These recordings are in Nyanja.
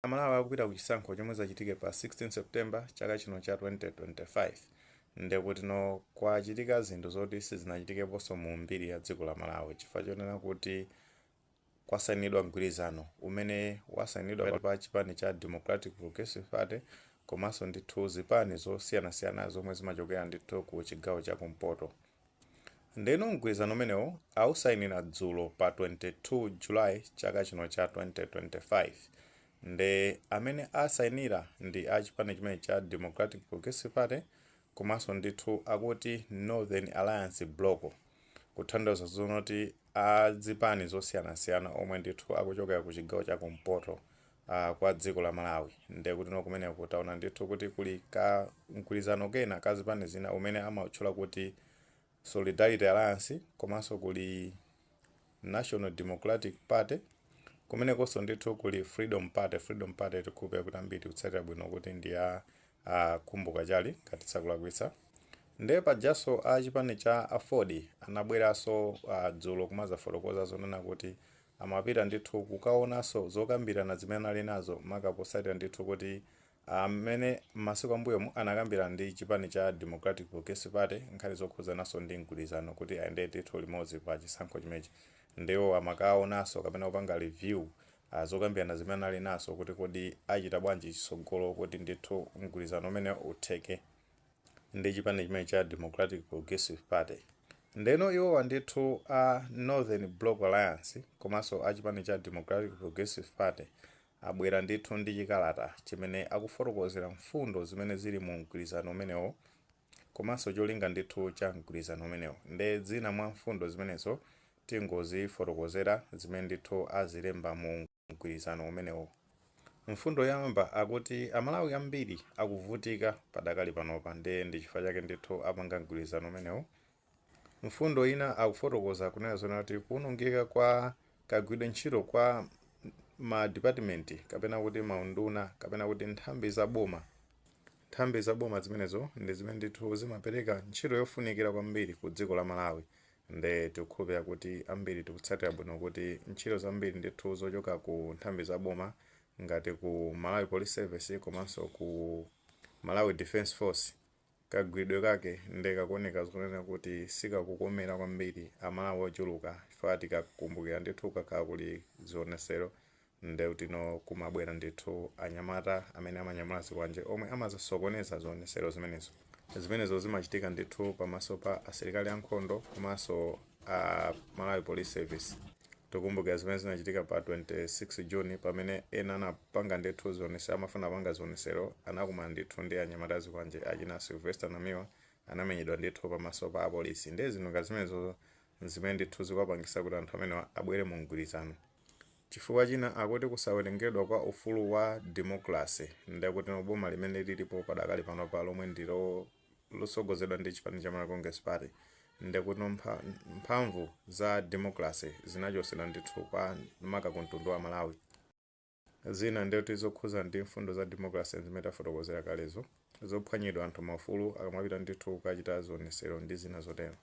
Amalawi akupita ku chisankho chomwe zichitike pa 16 September chaka chino cha 2025 ndekutino kwachitika zinthu zoti sizinachitikeponso mu mbiri ya dziko la Malawi chifukwa chonena kuti kwasainidwa mgwirizano umene wasainidwa pakati pa chipani cha Democratic Progressive Party komanso ndithu zipani zosiyanasiyana zomwe zimachokera ndithu ku chigawo cha kumpoto. Ndeno mgwirizano umenewo awusainira dzulo pa 22 July chaka chino cha 2025 nde amene asainira ndi a chipani chimenechi cha Democratic Progressive Party komanso ndithu akuti Northern Alliance Block kutanthauza zonena kuti a zipani zosiyanasiyana omwe ndithu akuchokera ku chigawo cha kumpoto kwa dziko la Malawi ndiye kutino kumeneko taona ndithu kuti kuli ka mgwirizano kena ka zipani zina umene amautchula kuti Solidarity Alliance komanso kuli National Democratic Party kumenekonso ndithu kuli Freedom Party, Freedom Party tikukhulupirira kuti ambiri tikutsatira bwino kuti ndi ya a Khumbo Kachali ngati tisakulakwitsa. Ndiye pajanso a chipani cha aford anabweranso a dzulo kumadzafotokoza zonena kuti amapita ndithu kukaonanso zokambirana zimene anali nazo maka potsatira ndithu kuti mmene m'masiku ambuyomu anakambirana ndi chipani cha Democratic Progressive Party nkhani zokhudzananso ndi mgwirizano kuti ayendere ndithu limodzi pa chisankho chimenechi nde iwowa amakaonanso kapena kupanga review zokambirana zimene anali nazo kuti kodi achita bwanji chitsogolo kuti ndithu mgwirizano umenewo utheke. ndi chipani chimene cha Democratic Progressive Party ndeno iwowa ndithu a Northern Block Alliance komanso a chipani cha Democratic Progressive Party abwera ndithu ndi chikalata chimene akufotokozera mfundo zimene zili mu mgwirizano umenewo komanso cholinga ndithu cha mgwirizano umenewo nde zina mwa mfundo zimenezo tingozifotokozera zimene ndithu azilemba mu mgwirizano umenewu. Mfundo yoyamba akuti Amalawi ambiri akuvutika padakali panopa ndiye ndi chifukwa chake ndithu apanga mgwirizano umenewu. Mfundo ina akufotokoza kunena zonena kuti kuwonongeka kwa kagwiridwe ntchito kwa madipatimenti kapena kuti maunduna kapena kuti nthambi za boma. Nthambi za boma zimenezo ndi zimene ndithu zimapereka ntchito yofunikira kwambiri ku dziko la Malawi Nde tikukhulupira kuti ambiri tikutsatira bwino kuti ntchito zambiri ndithu zochoka ku nthambi za boma ngati ku Malawi Police Service komanso ku Malawi Defence Force kagwiridwe kake nde kakuoneka zonena kuti sikakukomera kwambiri Amalawi ochuluka chifukwa tikakumbukira ndithu kukakhala kuli zionesero Ndekutino kumabwera ndithu anyamata amene amanyamula zikwanje omwe amazasokoneza zionesero zimenezo. Zimenezo zimachitika ndithu pamaso pa asilikali a nkhondo komanso a Malawi Police Service. Tikumbukira zimene zinachitika pa 26 June pamene ena anapanga ndithu zionese amafuna kupanga zionesero anakumana ndithu ndi anyamata azikwanje achina Sylvester Namiwa anamenyedwa ndithu pamaso pa apolisi. Ndiye zinthu ngati zimenezozo n'zimene ndithu zikuwapangitsa kuti anthu amenewa abwere mu mgwirizano. Chifukwa china akuti kusawerengedwa kwa ufulu wa democracy nde kuti boma limene lilipo padakali panopa lomwe ndi lotsogozedwa ndi chipani cha Malawi Congress Party nde kuti mphamvu za democracy zinachotsedwa ndithu kwa maka ku mtundu wa Amalawi. Zina nde kuti zokhudzana ndi mfundo za democracy nzimene tafotokozera kalezo, zophwanyidwa anthu maufulu akamapita ndithu kukachita zionetsero ndi zina zotero.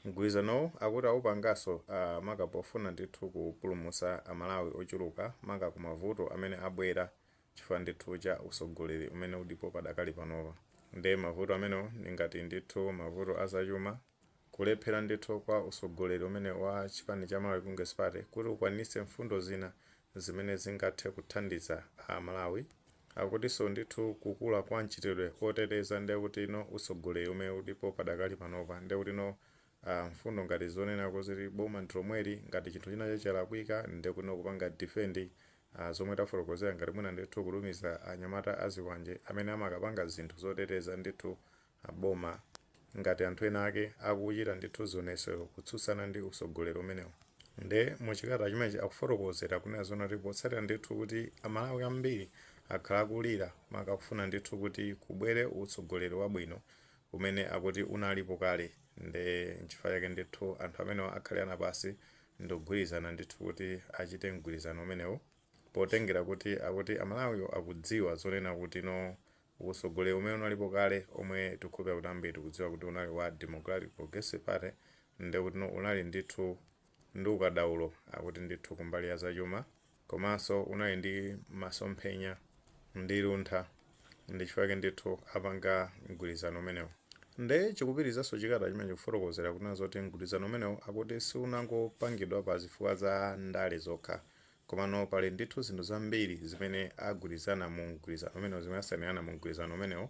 Mgwilizanowu akuti awupangaso a maka pofuna ndithu kupulumusa a Malawi ochuluka maka ku mavuto amene abwela chifukwa ndithu cha usogoleli umene ulipo padakali panopa. Nde mavuto amenewo ndi ngati ndithu mavuto a zachuma, kulephela ndithu kwa usogoleli umenewu wa chipani cha Malawi Congress Party kuti ukwanilitse mfundo zina zimene zingathe kuthandiza a Malawi. Akutiso ndithu kukula kwa mchitidwe oteteza nde kuti no usogoleri umene ulipo padakali panopa nde kuti no aah mfundo ngati zonena kuti boma ndilomweli ngati chinthu china che chalakwika nde kuti no kupanga defend aah zomwe tafotokozera ngati mwina ndithu kutumiza anyamata azikwanje amene amakapanga zinthu zoteteza ndithu a boma. Ngati anthu ena ake akuchita ndithu zionesero kutsutsana ndi utsogoleri umenewu nde mu chikalata chimenechi akufotokozera kunena zoti potsatira ndithu kuti a Malawi ambiri akhala akulira maka kufuna ndithu kuti kubwere utsogoleri wabwino umene akuti unalipo kale nde nchifukwa chake ndithu anthu amenewa akhalirana pansi ndikugwirizana ndithu kuti achite mgwirizano umenewu potengera kuti akuti a Malawiwo akudziwa zonena kuti no Usogoleri umene unalipo kale omwe tikukhulupira kuti ambiri tikudziwa kuti unali wa Democratic Progressive Party ndekutino unali ndithu ndi ukadaulo akuti ndithu kumbali ya zachuma komanso unali ndi masomphenya ndi luntha ndichifukwa chake ndithu apanga mgwirizano umenewu nde chikupitirizanso chikalata chimenechi kufotokozera kunena zoti mgwirizano umenewu akuti siunangopangidwa pa zifukwa za ndale zokha Komano pali ndithu zinthu zambiri zimene agwirizana mu mgwirizano umenewu, zimene asainirana mu mgwirizano umenewu,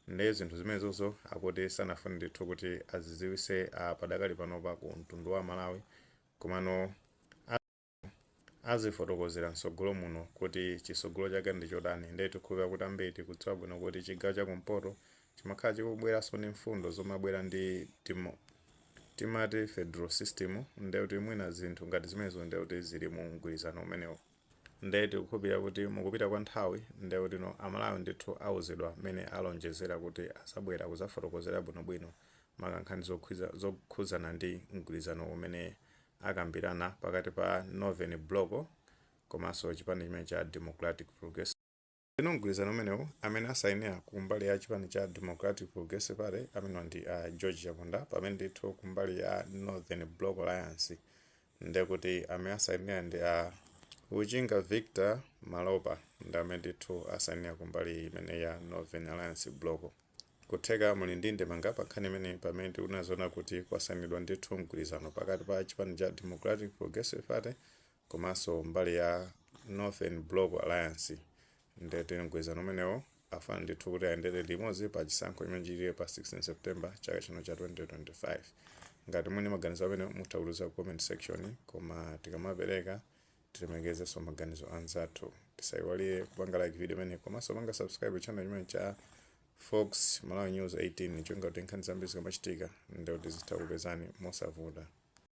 nde zinthu zimenezozo akuti sanafune ndithu kuti azidziwitse padakali panopa ku mtundu wa Amalawi komano ati azifotokozera mtsogolo muno kuti chitsogolo chake ndi chotani nde tikukhulupirira kuti ambiri tikudziwa bwino kuti chigawo cha kumpoto chimakhala chikubweranso ni mfundo zomabwera ndi timati federal system ndiye kuti mwina zinthu ngati zimenezo ndiye kuti zili mu mgwirizano umenewo ndiye tikukhulupirira kuti mukupita kwa nthawi ndiye kutino amalawi ndithu auzidwa mmene alonjezera kuti azabwera kuzafotokozera bwinobwino makankhani zokhudza- zokhudzana ndi mgwirizano umene akambirana pakati pa northern block komanso chipani chimene cha democratic progressive Ndeno mgwirizano umenewu amene asainira ku mbali ya chipani cha Democratic Progressive Party amenewa ndi a George Chaponda pamene ndithu ku mbali ya Northern Block Alliance ndekuti amene asainira ndi a Uchinga Victor Malopa ndi amene ndithu asainira ku mbali imene ya Northern Alliance Block. Kutheka muli ndi ndemanga pa nkhani imene pamene tikunena zona kuti kwasainidwa ndithu mgwirizano pakati pa chipani cha Democratic Progressive Party komanso mbali ya Northern Block Alliance nde ndi mgwirizano umenewo afuna ndithu kuti ayendere limodzi pa chisankho chimene chichitike pa 16 September chaka chino cha 2025. Ngati muli ndi maganizo amenewo mutha kutiuza ku comment section koma tikamapereka tilemekezenso maganizo anzathu. Tisaiwalire kupanga like video imeneyi komanso kupanga subscribe ku channel chimenechi cha Fox Malawi News 18 cholinga kuti nkhani zambiri zikamachitika nde kuti zizitha kukupezani mosavuta.